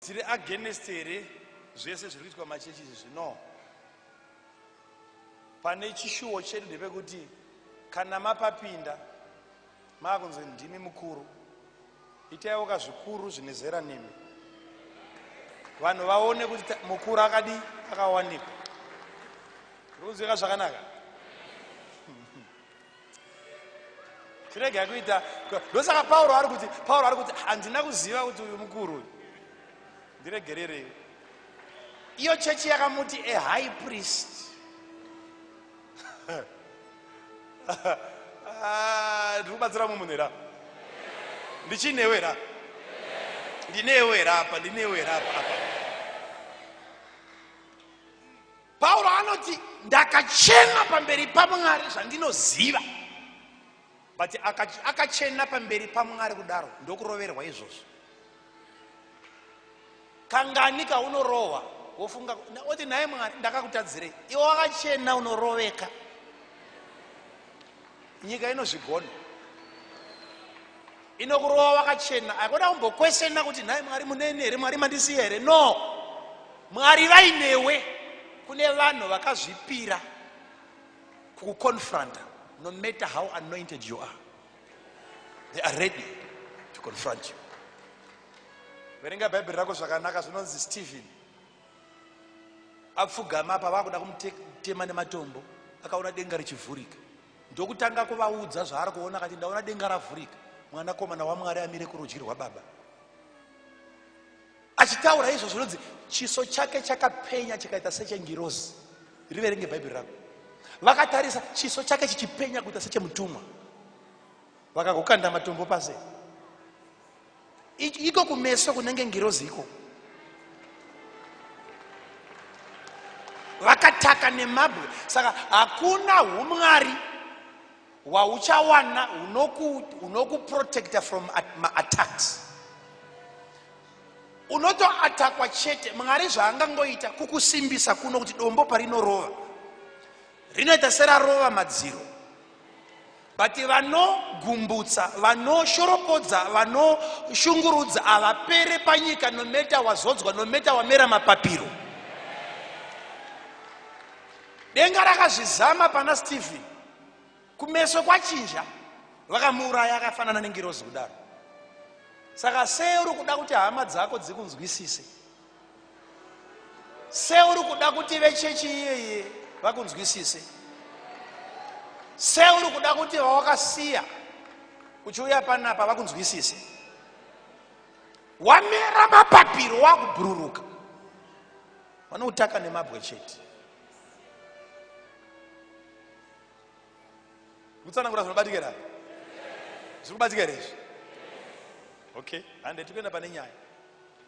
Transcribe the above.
Tiri against here zvese zviri kuitwa machechi izvi zvino? Pane chishuwo chedu ndepekuti kana mapapinda maakunzi ndimi mukuru, itaiwo kazvikuru zvine zera nemi, vanhu vaone kuti mukuru akadi akawanikwa. Ruziva zvakanaka. tirege kuita ndosaka pauro ari kuti pauro ari kuti handina kuziva kuti uyu mukuru uyu ndiregererei iyo chechi yakamuti a high priest ah, ndiri kubatsira mumwe munhu ra ndichinewe ra ndinewe rapa ndinewe rapa apa pauro anoti ndakachena pamberi pamwari zvandinoziva but akachena pamberi pamwari kudaro ndokuroverwa izvozvo kangani kaunorohwa wofunga oti nhaye mwari ndakakutadzirei iwe wakachena unoroveka nyika inozvigona inokurova wakachena hakuda kumbokweshena kuti nhai mwari muneni here mwari mandisiya here no mwari vainewe kune vanhu vakazvipira kukuconfronta no matter how anointed you are they are ready to confront you verenga bhaibheri rako zvakanaka zvinonzi stephen Apfugama apa vakuda kumutema nematombo akaona denga richivhurika ndokutanga kuvaudza zvaari kuona akati ndaona denga ravhurika mwanakomana wamwari amire kurudyi rwababa achitaura izvo zvinonzi chiso chake chakapenya chikaita sechengirozi riverenge bhaibheri rako vakatarisa chiso chake chichipenya kuita sechemutumwa vakagokanda matombo pase iko kumeso kunenge ngirozi iko vakataka nemabwe saka hakuna umwari hwauchawana hunokuprotecta from maattacks unotoatakwa chete mwari zvaangangoita kukusimbisa kuno kuti dombo parinorova rinoita serarova madziro But vanogumbutsa, vanoshoropodza, vanoshungurudza havapere panyika no matter wazodzwa, no matter wamera mapapiro. Denga rakazvizama pana Stephen. Kumeso kwachinja vakamuuraya akafanana nengirozi kudaro. Saka sei uri kuda kuti hama dzako dzikunzwisise? seuri kuda kuti vechechi iyeye vakunzwisise seuri kuda kuti vawakasiya uchiuya panapa vakunzwisise wamera mapapiro wakubhururuka vanoutaka nemabwe chete kutsanangura zvinobatikira zviri kubatika here izvi okay hande tikuenda pane nyaya